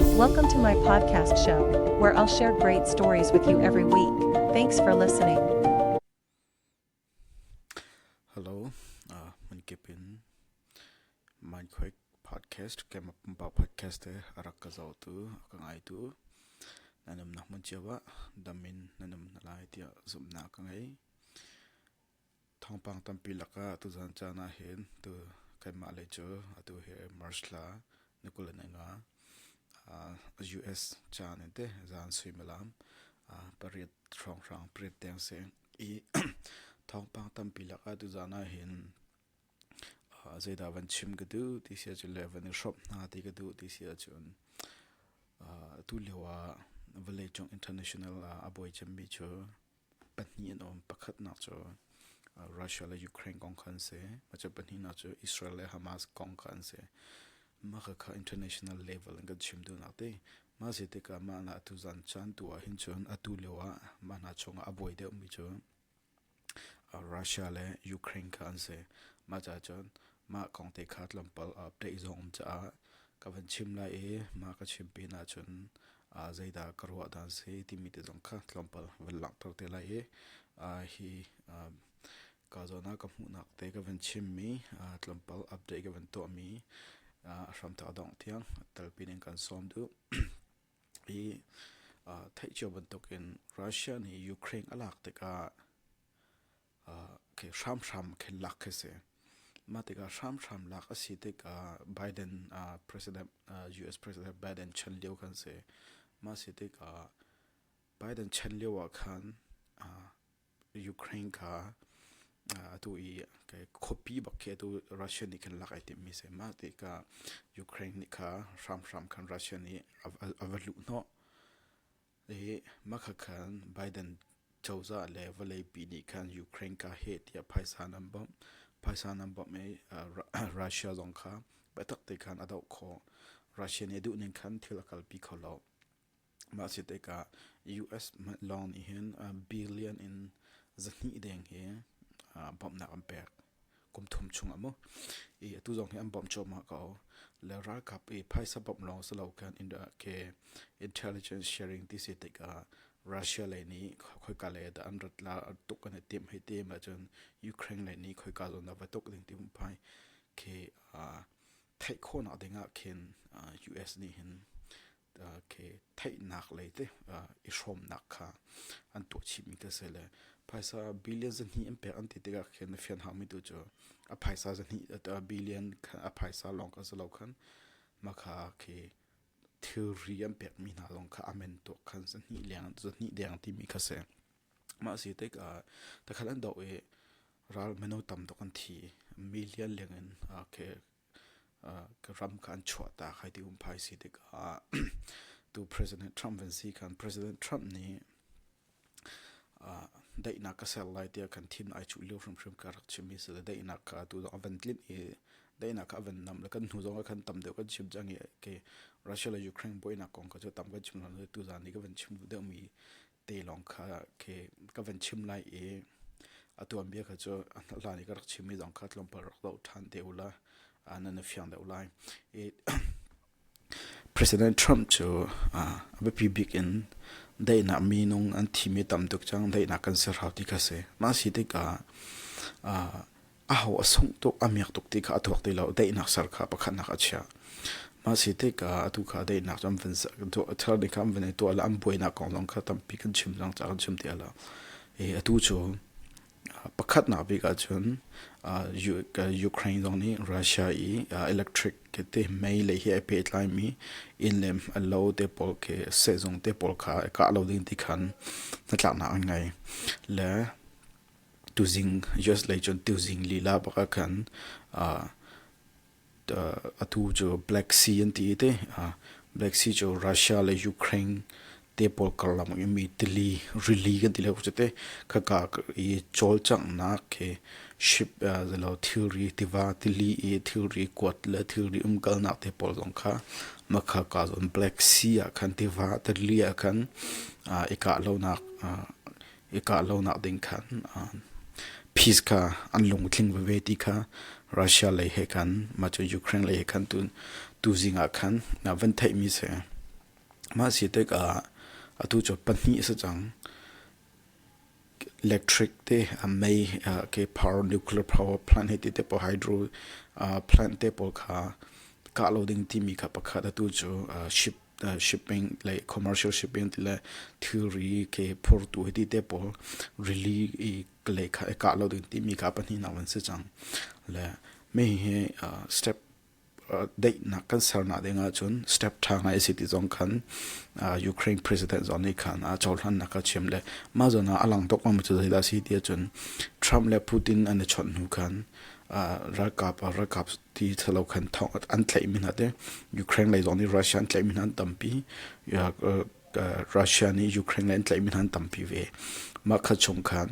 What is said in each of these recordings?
Welcome to my podcast show, where I'll share great stories with you every week. Thanks for listening. Hello, uh, man kipin man khoik podcast kem ba podcast te arak ka zo tu ka ngai tu nanum na mun chewa damin nanum na lai tia zumna ka ngai Thawngpang tampi lakah tuzan caan ahhin tu kanmah lei cu atu hi March thla ni kul in a nga. US caan in te zan suimilam pariat hrawnghrang pariat tiang seng i thawngpang tampi lakah tuzan ahhin zeidah van chim ka duh ti sia cun le van i hrawmh hna ti ka duh ti sia cun atu lio ah vawlei cung international ah a bawi cemmi cu Pahnih an um. Pakhatnak cu uh, Russia le Ukraine kong kha an si. Maca pahnihnak cu Israel le Hamas kong kha an si. Mah kha kha international level in kan chim duhnak ti. Mah se tikah mah hna atu zan caan tu ah hin cun atu lio ah mah hna chungah a buai deuhmi cu uh, Russia le Ukraine kha an si. Mah ca cun Mah kong te kha tlawmpal ah peh zong um caah ka van chim lai i mah ka chim pin ahcun zeidah ka ruah dan si timi te zong kha tlawmpal van langhter te lai i hi ka zawn ah ka hmuhnak te ka van chimmi tlawmpal update ka van tuahmi a hramthawk dongh tiang telpin in kan sawm duh. I theih cio bantuk in Russia nih Ukraine a lak tikah hramhram khin lak khi si. Mah tikah hramhram lak a si tikah Biden US President Biden chan lio kan si. Mah si tikah Biden chan lio ah khan Ukraine kha atu i khuapi bak khi atu Russia nih khan lak ai timmi si. Mah tikah Ukraine nih kha hramhram khan Russia nih a va luh hnawh. Hihi hmakhat khan Biden cozah le vawleipi nih khan Ukraine ka heh tiah phaisa an bawmh. Phaisa nan bawmh i Russia zong kha biatak te khan a doh khawh. Russia nih a duh ning khan thil a kalpi kho lo. Mah si tikah US lawng nih hin billion in zahnih deng hi bawmhnak an pek. kum thum chung a mu i atu zong hi an bawmh cuahmah ko le ralkap i phaisa bawmh lawng si lo kan ke intelligence sharing ti si tikah russia lei nih khoika lei dah an rat la tuk kan i tim hei tim ahcun ukraine lei nih khoika zong dah va tuk ding ti phai ke theih khawhnak dingah khin us nih hin theihnak lei te i hrawmnak kha an tuah chihmi te si le phaisa billion zahnih an pek an ti tikah khin a fian haumi tu cu a phaisa zahnih billion a phaisa lawng kha si lo khan makha khi thilri an pekmi hna lawng kha amen tuak khan zahnih leng zahnih deng timi kha si mah si tik takhat an doh i ral mino tam tuk an thi million leng in ke ka ram kha an chuah ta khai ti um phai si tikah tu president Trump van si khan president Trump nih daihnak ka ser lai tiah kan thin ai chuh lio hrimhrim ka rak chim i si le daihnak ka tu zong a van tlin i daihnak ka van nam le kan hnu zong a kan tam deuh kan chim cang i ke Russia le Ukraine buainak kong ka cu tam kan chim lo tu zan i ka van chim deuh mi te lawng kha khi ka van chim lai i a tuanbia kha cu hlan i ka rak chimmi zong kha tlawmpal rak doh ṭhan te ula nan i fiang deuh lai i President Trump cu a biapi bik in daihnak minung an thimi tam tuk cang daihnak kan ser hau ti kha si mah si tikah aho a sungh tuk a miak tuk ti kha a thuak ti lo daihnak ser kha pakhatnak a chia ma si te ka atu kha daihnak cam van thar ni kam van to la am buainak kong long kha tampi kan chim dang cha kan chim ti ala e atu chu pakhat na bi ka chun Ukraine dong ni Russia i electric ke te mei le hi pe tlai mi in lem alo te pol ke sezong te pol kha ka lo ding ti khan na tlak na ngai le tuzing US lei cun tuzing lila bak ah khan uh, atu cu Black Sea an ti te Black Sea cu Russia le Ukraine te pawl karlam i mi tili rili kan ti le cu te khaka i chol chang nak ke ship zalo thilri tiva tili i thilri kuat le thilri umkal nak te pawl zong kha makha ka zon Black Sea ah khan tiva tili ah khan ika lo nak i kah lonak ding khan peace kha an lungtling veve ti kha Russia lei he khan mah cu Ukraine lei he khan tu tuzing ah khan van theihmi si mah si tek ah atu cu pahnih si cang electric te mei ke power nuclear power plant he ti te po hydro plant te pawl kha kah lo ding timi kha pakhat atu cu ship shipping le commercial shipping ti le thilri ke phurtu hi te pawl rili i le ka lo ding ti mi ka pahnih nak an si cang le me hi step daihnak kan sernak ding ahcun step tha ngai a si ti zong khan Ukraine president zon nih khan a chawlhran nak a chim le ma zon ah a lang tuk ma cu da si ti ahcun Trump le Putin an i chawnh hnu khan ralkap ah ralkap ti thalo khan thong an tlaih mi hna te Ukraine lei zong nih Russia an tlaih mi hna an tampi Russia nih Ukraine lei an tlaih mi hna an tampi ve mah kha chung khan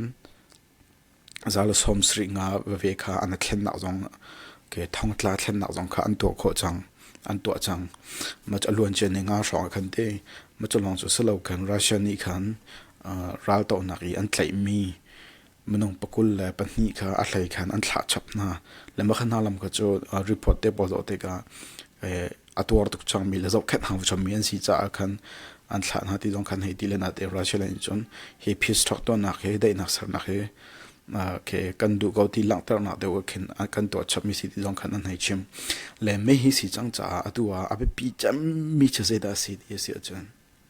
zala som sri nga ve kha an thlen nak zong ke thong tla thlen nak zong kha an tuah kho chang an tuah chang ma cha luan chen nga hrong khan te ma cha long chu selo kan Russia nih khan ral to nak i an tlaih mi minung pakul le pahnih kha a hlei khan an thlah chap hna le makha hna lam kha cu report te pawl zawh te ka a tuar tuk changmi le zohkhenh hau chommi an si caah khan an thlah hna ti zong khan hei ti le na te Russia le nih cun hi peace thok tuannak hi daihnak sernak hi ke kan duh ko ti langhternak deuh khin kan tuah chapmi si ti zong khan an hei chim le mei hi si cang caah atu ah a biapi cemmi cu zeidah si ti a si ahcun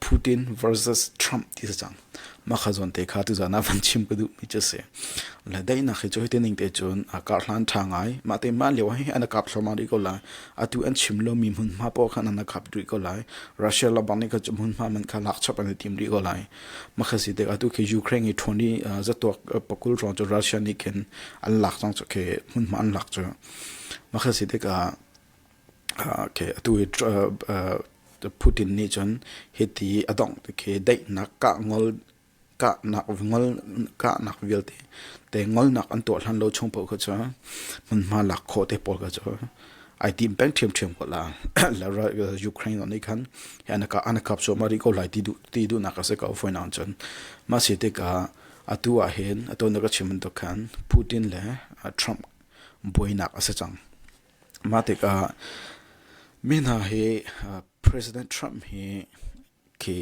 Putin versus Trump ti si cang. Mah kha zawn te kha tu zan ah van chim ka duh mi cu si. Le daihnak hi cu hiti ning te cun a kar hlan tha ngai. Mah te mah lio hi an kap thluamah rih ko lai. Atu an chim lo mi hmunhma paoh khan an kap rih ko lai. Russia labar nih kha cu hmunhma man kha lak chap an i tim rih ko lai. Mah kha si te atu khi Ukraine i thon i zatuak pakul rong cu Russia nih khin an lak cang cu khi hmunhma an lak cu. Mah kha si te ka Okay, atu hi Putin nih cun hiti a dongh ti khi daihnak kah ngol kahnak ngol kahnak vialte te ngolnak an tuah hlan lo chung paoh kha cu hmunhma lak khawh te pawl kha cu ai tim peng ṭhiamṭhiam ko la la Ukraine nih khan anaka anakap cu mari ko lai ti duh ti duhnak a si ko foi naun cun ma si te ka atu ah hin ato na ka chim tuk khan Putin le Trump buainak a si cang Mah tikah mi hna hi President Trump hi khi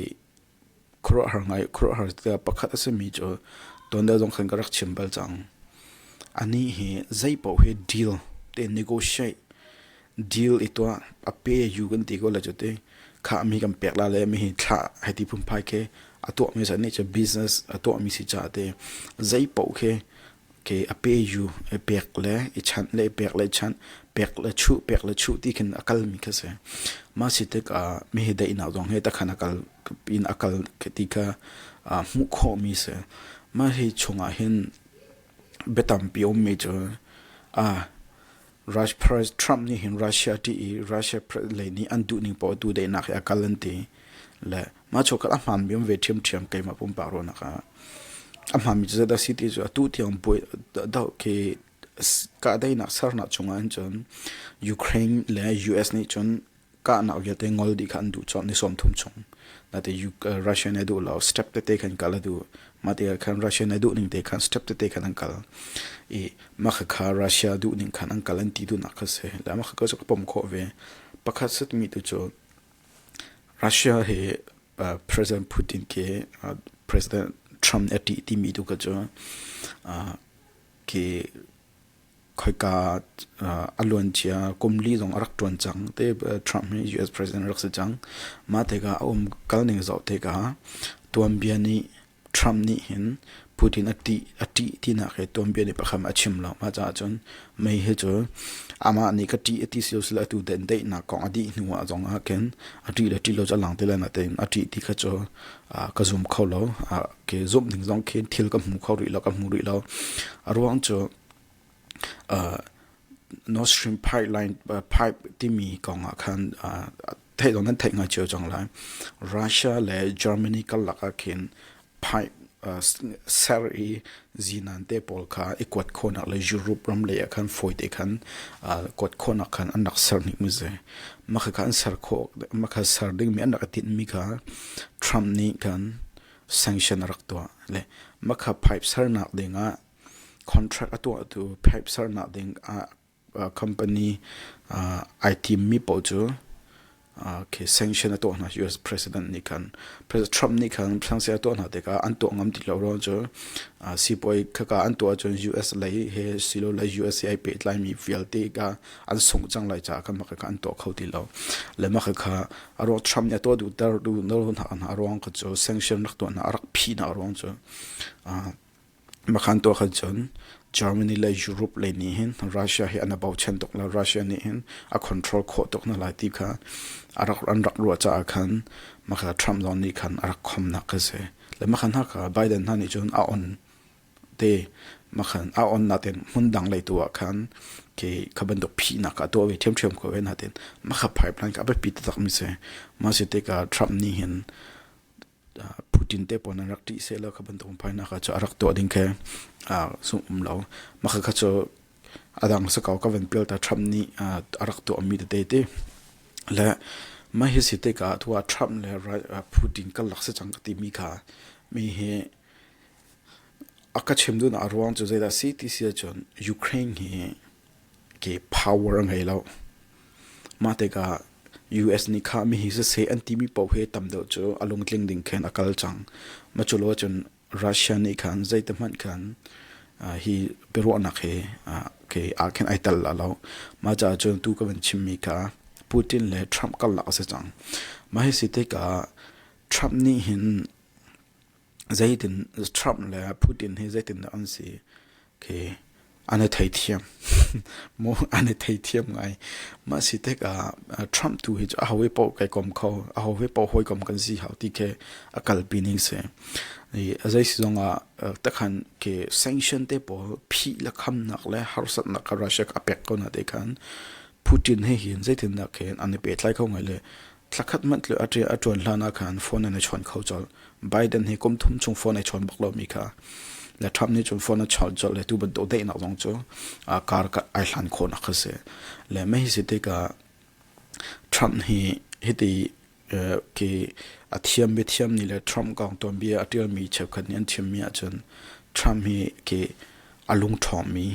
khuaruahhar ngai khuaruahhar tikah pakhat a simi cu tuanbia zong khan ka rak chim bal cang. Anih hi zeipaoh hi deal te negotiate deal i tuah a pe you kan ti ko le cu ti kha mi kan pek la le mi hi thlah hei ti phunphai khi a tuahmi sa nih cu business a tuahmi si caah ti zeipaoh khi Ke a pe yu, i pek le i chanh le i pek le i chanh, pek le chuh, pek le chuh ti khin a kalmi kha si. Mah si tikah mihi daihnak zong he takhan a kal in a kal ti kha uh, hmuh khawhmi si. Mah hi chungah hin biatampi a ummi cu uh, President Trump nih hin Russia ṭih i Russia lei nih an duhning paoh tu daihnak he a kal an ti. Le Mah chokhat a hmaanmi um ve ṭhiamṭhiam keimah pumpak ruahnak ah a hmaanmi cu zeidah a si ti cu atu tiang buai doh khi kahdaihnak sernak chungah hin cun Ukraine le US nih cun kahnak vialte ngol dih kha an duh cawk ni sawmthum chung nate Russia nih a duh lo step tete khan kal a duh mah te khan Russia nih a duh ning te khan step tete khan an kal i mah kha Russia duh ning khan an kal an ti duhnak kha si le mah kha cu ka pom khawh ve pakhat satmi tu cu Russia hi President Putin ke President Trump a ṭih timi tu kha cu ke khoika a luancia kum li zong a rak ṭuan cang te Trump hi US President rak si cang mah tikah a um kal ning zoh tikah tuanbia nih Trump nih hin Putin a ṭih a ṭih tinak hi tuanbia nih pakhat a chim lo. Mah caah cun mei hi cu amah nih ka ṭih a ti silo sila atu dandeihnak kong a dih hnu ah zong ah khin a ṭih le ṭih lo cu a lang ti lai. Natein a ṭih ti kha cu ka zum kho lo. Ke zumh ning zong khin thil ka hmu kho rih lo, ka hmu rih lo. A ruang cu North Stream pipe timi kong ah khan theih dawh nan theih ngai cio cang lai. Russia le Germany karlak ah khin pipe ser i zinan te pawl kha i kuat khawhnak le Europe ram lei ah khan fawi te khan kuat khawhnak khan an rak ser hnik mi si. Mah kha an ser khawh, mah kha ser dingmi an rak i tinh mi kha Trump nih khan sanction a rak tuah. Le mah kha pipe sernak ding ah Contract a tuahtu pipe sernak ding ah company ai timmi paoh cu sanction a tuah hna. US President nih khan Trump nih khan sanction a tuah hna tikah an tuah ngam ti lo ruang cu sipuai khaka an tuah ahcun US lei he silole USA ai pehtlaimi vialte kha an sungh cang lai caah khan mahka kha an tuah kho ti lo. Le mahka kha a ruang Trump nih a tuah duhter duh hna ruang kha cu sanction rak tuah hna a rak phi hna ruang cu Makhan tuah khan cun Germany le Europe lei nih hin Russia hi an a bochan tuk lo. Russia nih hin a control khawh tuk hna lai ti kha a rak, an rak ruah caah khan Makha Trump zong nih khan a rak khomnak ka si. Le makhan haka Biden hna nih cun a on te makhan a on natin hmun dang lei tu ah khan ke kha bantuk phihnak a tuah ve ṭhiamṭhiam ko ve natin makha pipeline ka a biapi taktak mi si. Mah si tikah Trump nih hin Putin te pon an rak ṭih seh lo kha bantuk phainak kha cu a rak tuah ding khi zumh um lo. Mah kha cu adang sakau ka van pial ta Trump nih a rak tuahmi tete ti. Le mah hi si tik ah tua Trump le Putin kan lak si cang ka timi kha mi hi a ka chim duhnak a ruang cu zeidah a si ti si ahcun Ukraine hi ke power a ngei lo. Mah tikah US nih khah mi hi siseh an timi paoh hi tam deuh cu a lungtling ding khin a kal cang. Ma cu lo cun Russia nih khan zei te hmanh khan uh, hi biaruahnak hi uh, ke aa khin ai tel la lo. Mah caah cun tu ka van chimmi kha Putin le Trump karlak a si cang. Mah hi si tikah Trump nih hin zeitin Trump le Putin hi zeitindah an si khi an i theithiam maw an i theithiam ngai mah si tik ah Trump tu hi cu a ho he poh kai kom kho a ho he poh hawi kom kan si hau ti khi a kalpi ning si i a zei si zong ah takhan khi sanction te pawl phih la khamnak le harsatnak a Russia a pek ko na te khan Putin he hin zeitindah khin an i pe tlai kho ngai le Thlakhat hmanh tluk a ṭia a ṭuan hlanah khan phone nan i chawn kho colh. Biden hi kum thum chung phone ai chawn bak lomi kha le Trump nih cun phone a chawn colh le tu bantuk daihnak zong cu aa kar ai hlan khawnak kha si. Le mei si tikah Trump hi hiti ki a thiam bi thiam ni le Trump kong ton bia a ṭialmi cheukhat nih an chimmi ahcun Trump hi ki a lungṭhawngmi,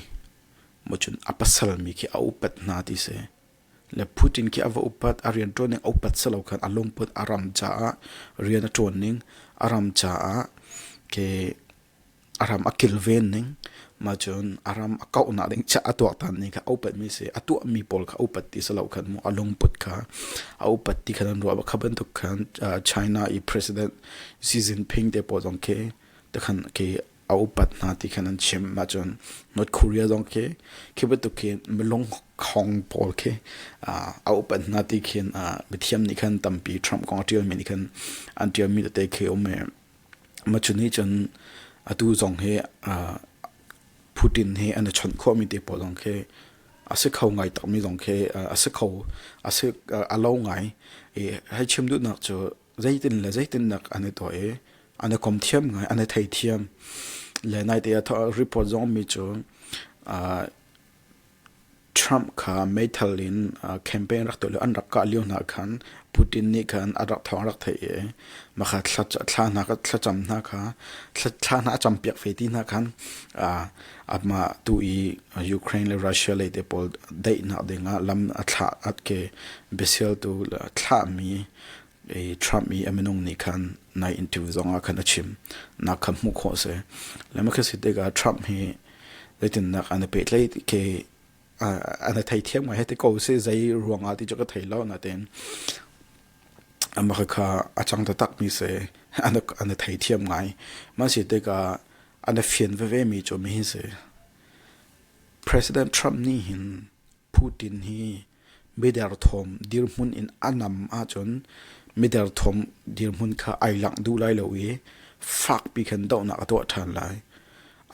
mo cun a pasalmi khi a upat hna ti si. Le Putin khi a va upat a rian ṭuan ning a upat si lo khan a lungput a ram caah rian a ṭuan ning a ram caah ke a ram a kilven ning ma cun a ram a kauhnak ding chiah a tuaktan ning kha a upatmi si a tuahmi pawl kha a upat ti si lo khan mu a lungput kha a upat ti khan an ruah kha bantuk khan China i president Xi Jinping te pawl zong khi te khan ke a upat hna ti khan an chim mah cun North Korea zong khi khi bantuk khi milung khong pawl khi a upat hna ti khin mithiam nih khan tampi Trump kong a ṭialmi nih khan an ṭialmi tete khi um i mah cu nih cun atu zong hi Putin hi an i chawnh khawhmi te pawl zong khi a si kho ngai takmi zong khi a si kho a si a lo ngai i hei chim duhnak cu zeitin le zeitinnak an i tuah i an i kom thiam ngai an i theithiam le naite a thawh report zong mi cu uh, Trump kha meithal in uh, campaign rak tuah le an rak kah lio hna khan Putin nih khan a rak thawng rak thei i makha thla hna ka thlacam hna kha thla hna a champiak fe ti hna khan ama tu i Ukraine le Russia le te pawl dei nak ding a lam a thla at ke besial tu thla mi Trump i a minung nih khan nai interview zongah khan a chim nak kha hmuh khawh a si lema khi si tikah Trump hi zeitinnak an i petlei ke an i thei thiam ngai hei ti ko si zei ruangah ti cu ka thei lo natin amaka kha a chang ta tak mi se an an thei thiam ngai ma si tikah an fian veve mi cu mi hi si President Trump ni hin Putin hi miderthawm dirhmun in a nam ahcun miderthawm dirhmun kha ai langh duh lai lo i fakpi khan dohnak a tuah ṭhan lai.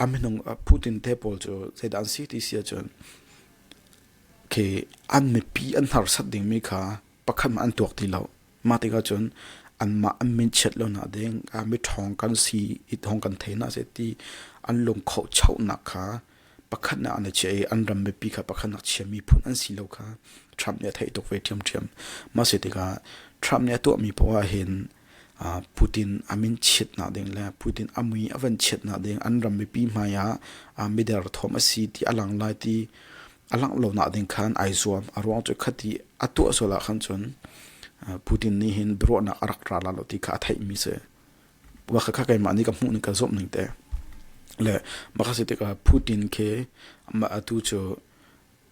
A minung Putin te pawl cu zeidah an si ti si ahcun khi an mipi an hnarsat dingmi kha pakhat an tuak ti lo. Mah tikah cun anmah an min chiat lo nak ding, mi ṭhawng kan si i thawng kan thei hna seh ti an lungkhohchohnak kha pakhatnak an i chiah i an ram mipi kha pakhatnak chiami phun an si lo kha Trump nih a theih tuk ve ṭhiamṭhiam. Mah si tikah Trump nih a tuahmi poah hin uh, Putin a min chiatnak ding le Putin a mui a van chiatnak ding an ram mipi hmai ah uh, mider thawm a si ti a lang lai ti a langh lo nak ding khan ai zuam a ruang cu khati a tuah sual ah khan cun uh, Putin nih hin biaruahnak a rak ra la lo ti kha a theihmi si. Maka kha keimah nih ka hmuh ning ka zumh ning te. Le maka si tikah Putin ke ma atu cu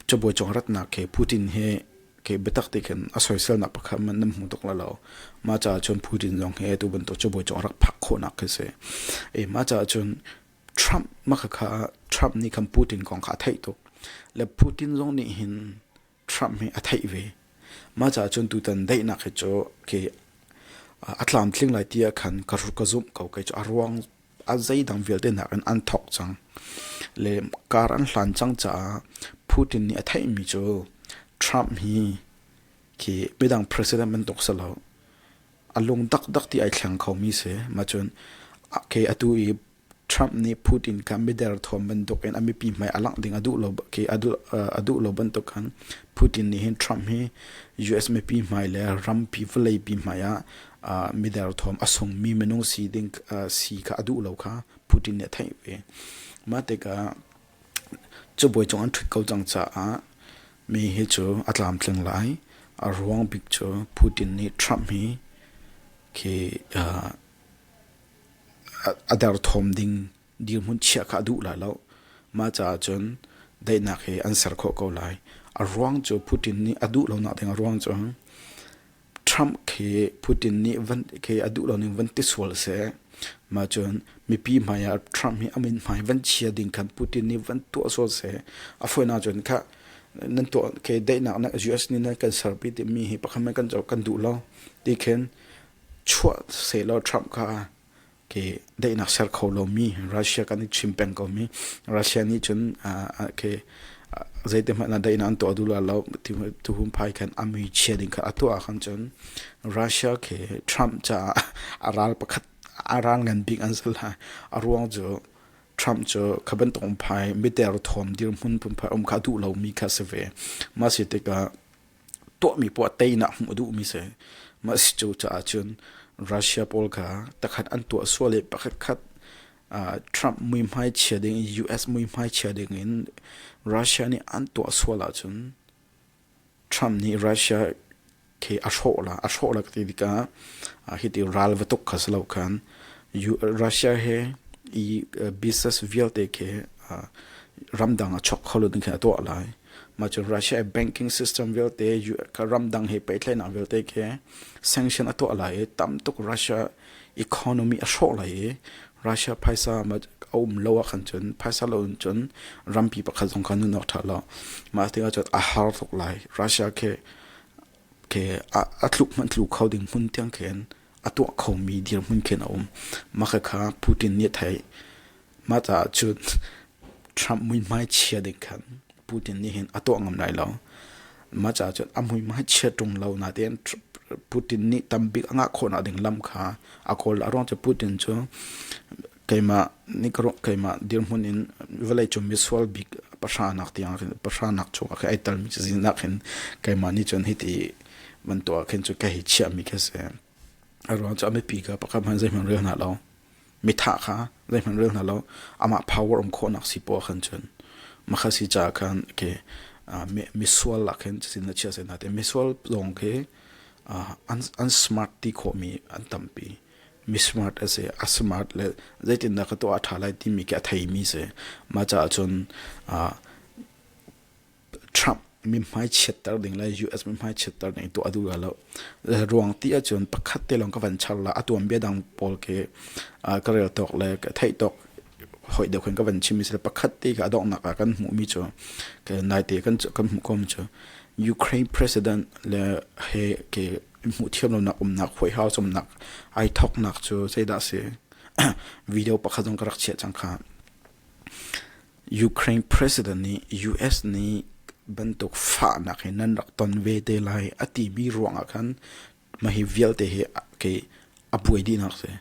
cabuai cong ratnak ke Putin he ke biatak ti khin a soiselnak pakhat man nan hmu tuk la lo. Ma caah cun Putin zong hi tu bantuk cabuai cong rak phak khawhnak khi si. E ma caah cun Trump maka kha Trump nih khan Putin kong kha a theih tuk. Le Putin zong nih hin Trump hi a theih ve. Ma ca cun tutan daihnak hi cu ke a tlamtling lai tiah khan ka ka zumh ko kei cu a ruang a zeidang vialte nak in an thawk cang le kar an hlan cang caah Putin nih a theihmi cu Trump hi khi midang president bantuk si lo a lung dakdak ti ai thleng khomi si ma cun ke atu i Trump nih Putin kha mi derthawm bantuk in a mipi hmai a langh ding a duh lo khi a duh lo bantuk khan Putin nih hin Trump hi US mipi hmai le rampi vawleipi hmai ah mi derthawm a sungmi minung si ding si kha a duh lo kha Putin nih a theih ve. Mah tikah cubawi cung an ṭhut ko cang caah mi hi cu a tlamtling lai. A ruang bik cu Putin nih Trump hi khi a derthawm ding dirhmun chiah kha a duh la lo. Mah caah cun daihnak hi an ser khawh ko lai. A ruang cu Putin nih a duh lonak ding a ruang cu Trump khi Putin nih van khi a duh loning van ti sual seh. Mah cun mipi hmai ah Trump hi a min hmai van chia ding khan Putin nih van tuah sual seh. A fawinak cun kha nan tuah khi daihnak US nih nan kan serpi timi hi pakhat man kan co kan duh lo. Ti khin chuah sehlaw Trump kha ke daihnak ser kho lomi Russia kan i chim peng komi Russia nih cun ke zeite hmanh ah daihnak an tuah duh lo tu hum phai khan a mui chia ding kha a tuah khan cun Russia ke Trump caah a ral pakhat a ral ngan bik an zul lai a ruang cu Trump cu kha bantuk phai miter thawm dirhmun pumphai um kha duh lomi kha si ve masi tikah tuahmi puah teinak hmuh a duhmi si mah si cu caah cun Russia pawl kha takhat an tuah sual i pakhat khat Trump muihmai chia ding US muihmai chia ding in Russia nih an tuah sual ahcun Trump nih Russia khi a hrawh la a hrawh la ti tikah hi ti ral va tuk kha si lo khan Russia he i business vialte khi ramdang a chok kholun khin a tuah lai mah cu Russia e banking system vialte ramdang he pehtlaihnak vialte ke sanction a tuah lai i tam tuk Russia economy a hrawh lai i Russia phaisa a um lo ah khan cun phaisa lo in cun rampi pakhat zong khan nun awk tha lo mah te ah cun a har tuk lai Russia ke ke a tluk hman tlu kho ding hmun tiang khin a tuah kho mi dir hmun khin a um mah kha Putin nih thai Mah caah cun Trump muihmai chia ding khan Putin nih hin a tuah ngam lai lo. Mah caah cun a muihmai chia ṭung lo natein Putin nih tambik a ngah khawhnak ding lam kha a kawl. A ruang cu Putin cu keimah keimah dirhmun in vawleicung misual bik pahranak tiang khin pahranak chung ah khin ai telmi cazin ah khin keimah nih cun hiti bantuk ah khin cu ka hi chiahmi khi a si. A ruang cu a mipi ka pakhat hmanh zeihmanh rel hna lo. Mithah kha zeihmanh rel hna law amah power um khawhnak si paoh ah khan cun makha si caah khan ke uh, misual ah khin cutin na chiah sai hna tiah misual zong khi uh, an, an smart ti khawhmi an tampi mismart a si a smart le zeitindah ka tuah a ṭha lai timi khi a theimi si mah caah cun uh, Trump mithmai chiatter ding le US mithmai chiatter ding tuah a duh lo. Ruang ti ahcun pakhat te lawng ka van char la a tuanbia dang pawl ke ka rel tawk le ka theih tawk hoi deuh khin ka van chim mi si pakhat te ka donghnak ah kan hmuh mi cu naite kan kan hmuh ko mi cu Ukraine president le he ke hmuh thiam lonak umnak hoi hau sumnak ai thoknak cu zeidah si video pakhat zong ka rak chiah cang kha Ukraine president nih US nih bantuk fahnak hi nan rak ton ve te lai a timi ruangah khan mah hi vialte hi kei a buai dihnak si.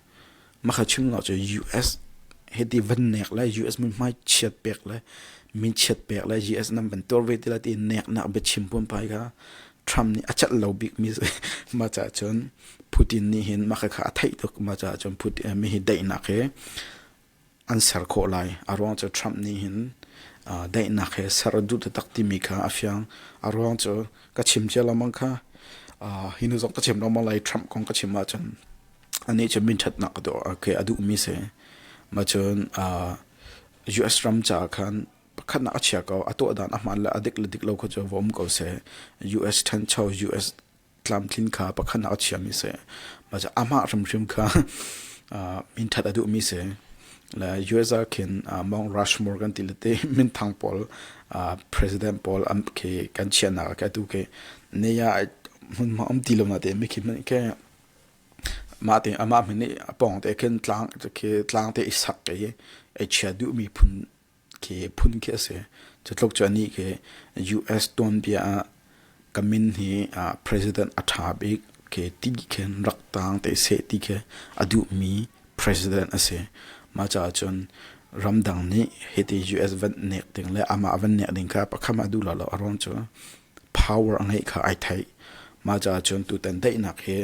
Mah kha chimnak cu US hi ti van nek le US min hmai chiat pek le min chiat pek le US nan van tuar ve ti la ti nek nak biachim pun pai kha Trump nih a cat lo bik mi si ma ca cun Putin nih hin mah kha a theih tuk ma ca cun Putin mi hi daihnak hi an ser khawh lai. A ruang cu Trump nih hin daihnak he ser duh taktak timi kha a fiang. A ruang cu ka chim cia lengmang kha hi hnu zong ka chim lengmang lai Trump kong ka chim ahcun anih cu minṭhatnak a duhmi si. Macun US ram caah khan pakhatnak a chia ko. A tuahdan a hmaan le a dik le dik lo kha cu va um ko seh. US ṭhancho, US tlamtlin kha pakhatnak a chiami si amah hrimhrim kha min ṭhat a duhmi si le US ah khin Mount Rushmore kan ti le te minthang pawl president pawl an khi kan chiahnak ah kai tu khi ne ya hmun ma um ti lo na te mi khi min ke ma te amah min ni pong te khin tlang khi tlang te isak ke e chia duhmi phun khi phun khi a si. Cu tluk cu anih khi US tuanbia ah Kamin hi president a tha bik khi ti khin rak tang te seh ti khi a duhmi president a si. Mah caah cun ramdang nih hiti US van nek ding le amah van nek ding kha pakham a duh lolo a ruang cu power a ngeih kha ai theih. Mah caah cun tutan daihnak hi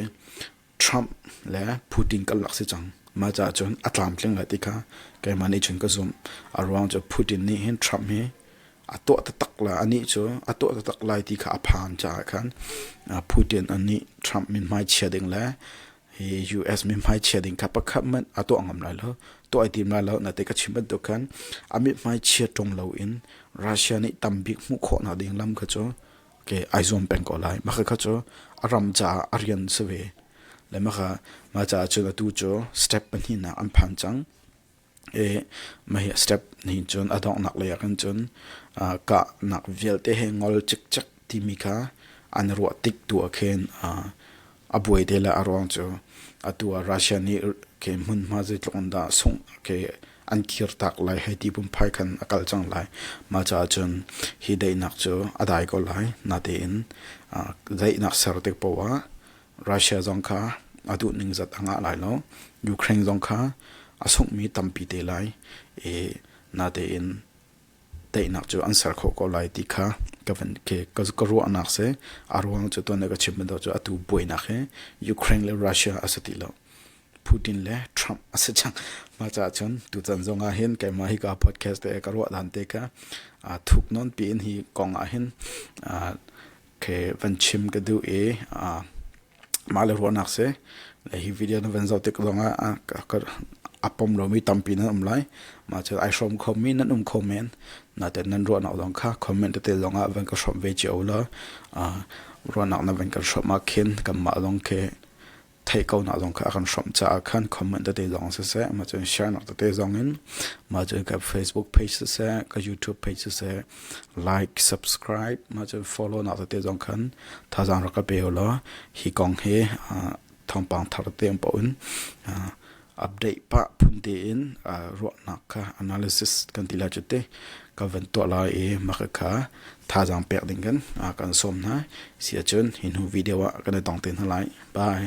Trump le Putin karlak si cang. Mah caah cun a tlamtling lai ti kha keimah nih cun ka zumh. A ruang cu Putin nih hin Trump hi a tuah taktak lai, anih cu a tuah taktak lai ti kha a phan caah khan Putin anih Trump mithmai chia ding le hi US mithmai chia ding kha pakhat hmanh a tuah ngam lai lo. Tuah i tim lai lo. Nate ka chim bantuk khan a mithmai chia ṭung lo in Russia nih tam bik hmuh khawh nak ding lam kha cu ke ai zuam peng ko lai. Maka kha cu a ram caah a rian si ve. Le maka mah caah cun atu cu step pahnihnak an phan cang. I mah hi step nih cun a donghnak lei ah khan cun uh, kahnak vialte he ngol cikcek timi kha an ruah tik tu ah khin uh, A buai te le a ruang cu atu ah Russia nih ke hmunhma zeitluk in dah sungh ke an kir tak lai hei ti pumphai khan a kal cang lai. Mah caah cun hi daihnak cu a dai ko lai. Natein daihnak ser tik poah ah Russia zong kha a duh ning zat a ngah lai lo. Ukraine zong kha a sunghmi tampi te lai i natein Teinak cu an ser khawh ko lai ti kha ka van ke ka, ka ruahnak se a ruang cu tuan ka chim bantuk cu atu buainak hi Ukraine le Russia a si ti lo Putin le Trump a si cang ma ca chun tu chan zong ah hin keimah hi ka podcast te ka ruah dan te ka thuk non pi in hi kong ah hin khe van chim ka duh i mah le ruahnak si le hi video na van zoh tik zongah a pom lomi tampi nan um lai mah cu ai hrawm khomi nan um kho men naten nan ruahnak zong kha comment tete zongah van ka hrawm ve cio law ruahnak na van kan hrawm ah khin kanmah zong khi theih ko nak zong kha a kan hrawmh caah khan comment tete zong siseh ma cun share nak tete zong in ma cun ka Facebook page siseh ka YouTube page siseh like subscribe ma cun follow nak tete zong khan thazang ra ka pe lo hi kong hi thongpang thar te um pa un update pa phun tein ruahnak kha analysis kan ti lai cuti ka van tuah lai i maka kha thazaang pek ding kan kan sawm hna si ahcun hi hnu video ah kan i tong te hna lai bye